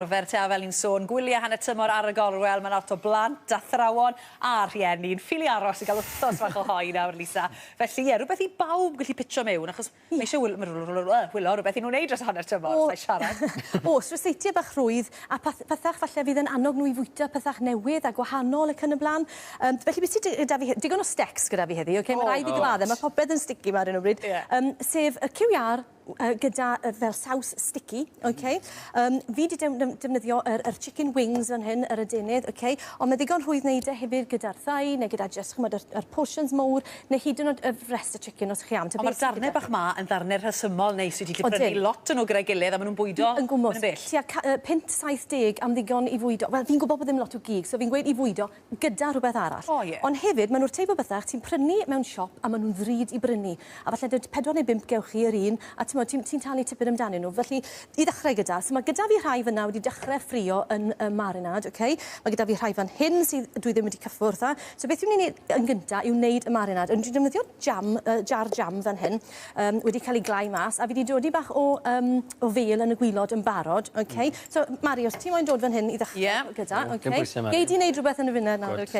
arfer te a fel ni'n sôn, gwyliau hanner tymor ar y gorwel, mae 'na lot o blant, athrawon a rhieni yn ffili aros i gael wythnos fach o hoe nawr, Lisa. Felly, ie, rhywbeth i bawb gallu pitio mewn, achos mae eisiau wyl- ma' rw- rw- yy wylio rhywbeth i nhw wneud dros hanner tymor, os ai siarad. Oes, ryseitiau bach rhwydd a peth- pethach falle fydd yn annog nhw i fwyta pethach newydd a gwahanol ac yn y blaen. Yym, felly be sy dy- gyda fi he- digon o stecs gyda fi heddi, ocê? Mae rhaid fi gyfadde, mae popeth yn sticky 'ma ar hyn o bryd. Ie. Yym, sef y cyw iâr, uh, gyda uh, fel saws sticky, mm-hmm. okay? Um, fi wedi defnyddio yr, yr chicken wings fan hyn, yr adenydd, okay? ond mae ddigon rhwydd wneud e hefyd gyda'r thai neu gyda just chymod, yr, yr portions mowr neu hyd yn oed y rest y chicken os chi am. Ond mae'r darnau bach ma yn ddarnau rhesymol neis wedi prynu lot yn o gyda'i gilydd a maen nhw'n bwydo yn gwmwys. Tua uh, 5-70 am ddigon i fwydo. Wel, fi'n gwybod bod ddim lot o gig, so fi'n gweud i fwydo gyda rhywbeth arall. O ie. Ond hefyd, maen nhw'r teip o bethau ti'n prynu mewn siop a maen nhw'n ddrud i brynu. A falle dy- pedwar neu bump gewch chi yr un, a timod, ti'n ti'n talu tipyn amdanyn nhw. Felly, i ddechrau gyda, so mae gyda fi rhai fan'na wedi dechrau ffrio yn y marinade, ok? Mae gyda fi rhai fan hyn sydd... dwi ddim wedi cyffwrdd â. So beth dwi'n mynd i wneud yn gynta yw wneud y marinade. Ond dwi'n defnyddio jam, yy jar jam fan hyn, yym wedi cael ei glai mas, a fi 'di dodi bach o yym o fêl yn y gwilod yn barod. Ok. So, Mari, os ti moyn dod fan hyn i ddechrau... Ie. ...gyda, ok. Dim pwyse, Mari. Gei di wneud rhywbeth yn y funud nawr, ok.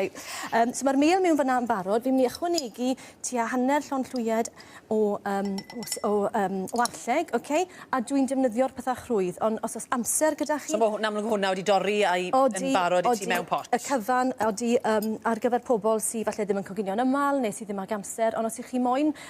Yym, so ma'r mêl mewn fan'na yn barod. Fi'n mynd i ychwanegu tua hanner llond llwyed o yym o s- o yym o arlleg, ok, a dwi'n defnyddio'r petha crwydd, ond os o's amser gyda chi... So ma' hw- yn amlwg ma' hwnna wedi dorri a'i... Odi. ...yn barod i ti mewn pot? Odi, odi. Y cyfan, odi, yym, ar gyfer pobol sy falle ddim yn coginio'n ymal ne' sy ddim ag amser, ond os 'ych chi moyn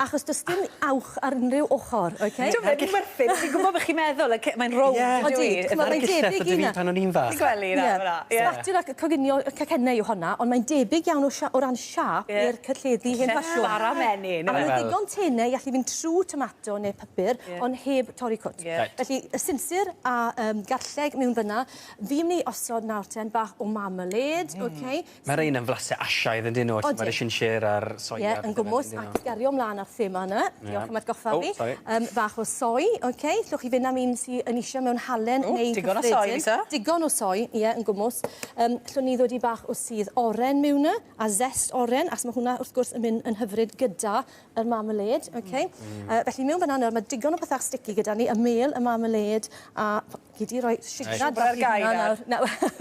Achos does dim uwch ar unrhyw ochr, ok? Dyw e ddim werth it, fi'n gwybod beth chi'n meddwl, y ce- mae'n rownd yndyw 'i? Ie, chimod mae'n debyg i 'na. pan o'n i'n fach. Ti'n gwely nawr fan 'na? Ie. Sbatiwr ac coginio y cacenne yw honna, ond mae'n debyg iawn o sia- o ran siâp i'r carlledu hen ffasiwn. Cacenne bara menyn. A ma' 'na ddigon tenau i allu mynd trw tomato ne' pypyr ond heb torri cwt. Ie. Reit. Felly y sinsir a yym garlleg miwn fyn 'na, fi myn' i osod nawr ten bach o marmalade, ok? Mae rhein yn flasau Asiaidd yndyn nhw, mae'r Chinchera a'r soia... Ie, yn gwmws, ac i gario ymlaen â'r thema yna, diolch am atgoffa fi, yym bach o soy, ok, allwch chi fynd am un sy yn isio mewn halen neu cyffredin. Digon o soy, Lisa. Digon o soy, ie, yn gwmws. Yym, allwn ni ddod i bach o sudd oren miwn y, a zest oren, achos mae hwnna, wrth gwrs, yn mynd yn hyfryd gyda yr marmalade, ok. Yy, felly miwn fan'na nawr, mae digon o bethau sticky gyda ni, y mêl, y marmalade, a... Chi 'di roi signal bach i hwnna nawr. Na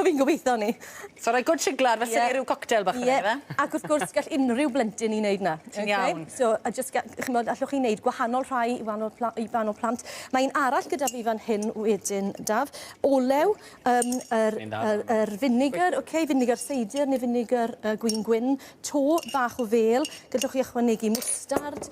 fi'n gobeitho 'ny. So roi good signal fel se ni ryw coctel bach fan 'yn yfe? Ie ac wrth gwrs gall unryw blentyn 'i neud 'na. Ti'n iawn. Ok so a jyst ga- ch'mod allwch chi neud gwahanol rhai i wanol pla- i gwahanol plant. Mae un arall gyda fi fan hyn wedyn Daf. Olew yym yr yr yr vinegar ok vinegar seidyr ne' vinegar yy gwin gwyn. To bach o fêl gallwch chi ychwanegu mwstard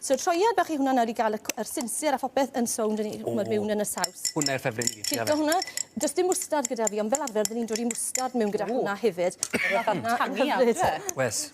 So troiad bach i hwnna nawr i gael y yr sinsir a phopeth yn sownd yn i- ch'mod miwn yn y saws. Hwnna yw'r ffefryn i fi. Cico hwnna. Do's dim mwstard gyda fi ond fel arfer by' ni'n dod i mwstard miwn gyda hwnna hefyd. Ma' hwnna yn hyfryd. Wes.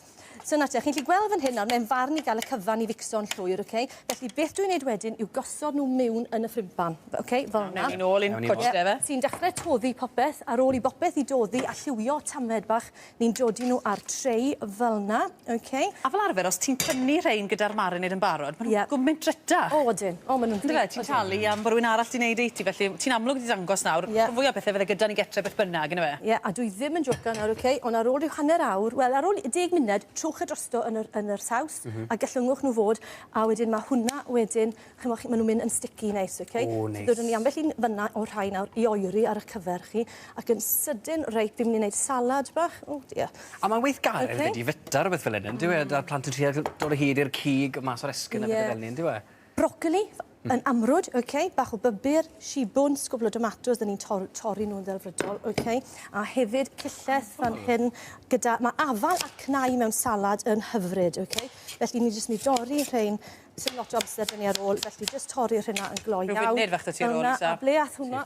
So 'na ti a chi'n 'llu gweld fan hyn nawr mae'n farn i ga'l y cyfan i fixo'n llwyr oce? Felly beth dwi'n neud wedyn yw gosod nw miwn yn y ffrindpan. Fe- oce? Fel 'na. Mewn i nôl i'n cwtsh de yfe? Ti'n dechre toddi popeth ar ôl i bopeth i doddi a lliwio tamed bach Ni'n dodi nhw ar tray fel 'na, oce? A fel arfer os ti'n tynnu rhein gyda'r marinade yn barod ma' nhw'n gwmint drytach. O odyn, o ma' nhw'n yndyfe? Ti'n talu am bo' rywun arall 'di neud e i ti felly ti'n amlwg 'di dangos nawr rhan fwya o pethe fydde gyda ni gytre beth bynnag yndyfe? Ie a dwi ddim yn jocan nawr oce on' ar ôl ryw hanner awr wel ar ôl deg munud trowch e drosto yn yr yn yr saws a gyllwngwch nhw fod a wedyn ma' hwnna wedyn Ch'mo' chi ma' nw'n myn' yn sticky neis oce? O neis. Dod â ni ambell un fyn 'na o rhai nawr i oeri ar 'ych cyfer chi ac yn sydyn reit fi myn' i neud salad bach. O dia. A ma'n weithgaredd... Oce. ...'dy di fita rwbeth fel 'yn on'd yw e? 'da'r plant yn trio g- dod o hyd i'r cig mas o'r esgyn... Ie. ...a pethe fel 'ny on'd yw e? Brocoli f- yn amrwd oce bach o bybur, shibwns, cwbwl o domatos 'dyn ni'n tor- torri nw'n ddelfrydol oce a hefyd cillell fan hyn gyda ma' afal a cnau mewn salad yn hyfryd oce felly ni jyst myn' i dorri rhein Sdim lot o amser 'da ni ar ôl, felly jyst torri'r rhena yn gloi iawn. Rhyw funud fach 'da ti ar ôl, Lisa. A ble ath hwnna?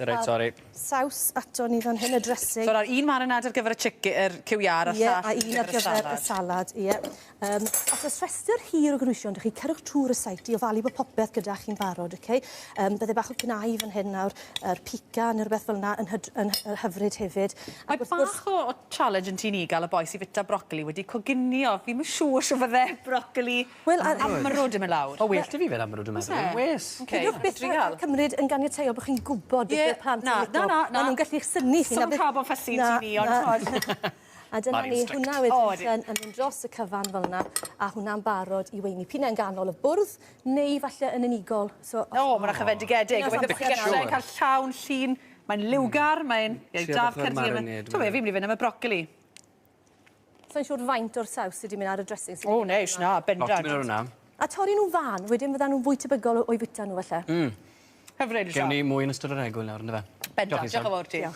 Reit, sori. Saws ato ni fan hyn, y dressing. So, un marinade ar gyfer y chicken, yr cyw iâr, a'r llall ar gyfer y salad. Ie, a un ar gyfer y salad, ie. Yym, os oes rhestr hir o gynhwysion 'da chi, cerwch trwy'r recipe i ofalu bod popeth gyda chi'n barod, oce? Yym, bydde bach o gnau fan hyn nawr, yr pica ne' rwbeth fel 'na yn hyd- yn hy- hyfryd hefyd. Mae bach o o challenge yn tŷ ni ga'l y boi sy fita brocoli wedi coginio. Fi'm yn siŵr shw fydde brocoli Wel a- Amrwd yn myn' lawr. Ma' well 'da fi fe'n amrwd yn meddwl. O's e? Wes. Oce. Peidiwch byth â â cymryd yn ganiataol bo' chi'n gwbod beth yw'r plant yn lico. Ie. Na. Na. Na. Ma' nw'n gallu 'ych synnu chi. Swn ca'l bo' fussy i ti Fi ond t'mod. A dyna ni. Hwnna wedyn... O ydi. ...yn mynd dros y cyfan fel 'na a hwnna'n barod i weini. P'un ai yn ganol y bwrdd neu falle yn unigol so... O ma' 'na chyfendigedig. Gobeithio bo' chi allu ca'l llawn llun. Mae'n liwgar mae'n... Ie da ar cyrsiau. T'o' be' fi myn' i fyn' am y brocoli. Sai'n siŵr faint o'r saws sy 'di mynd ar y dressing sy 'di mynd O neis, na, bendant. Lot 'di mynd ar wnna. A torri nhw'n fân, wedyn fyddan nhw'n fwy tebygol o o'i fwyta nhw falle. Mm. Hyfryd, Sian. Gewn ni mwy yn ystod yr egwyl nawr, yndyfe? Bendant, diolch yn fowr ti. Diolch.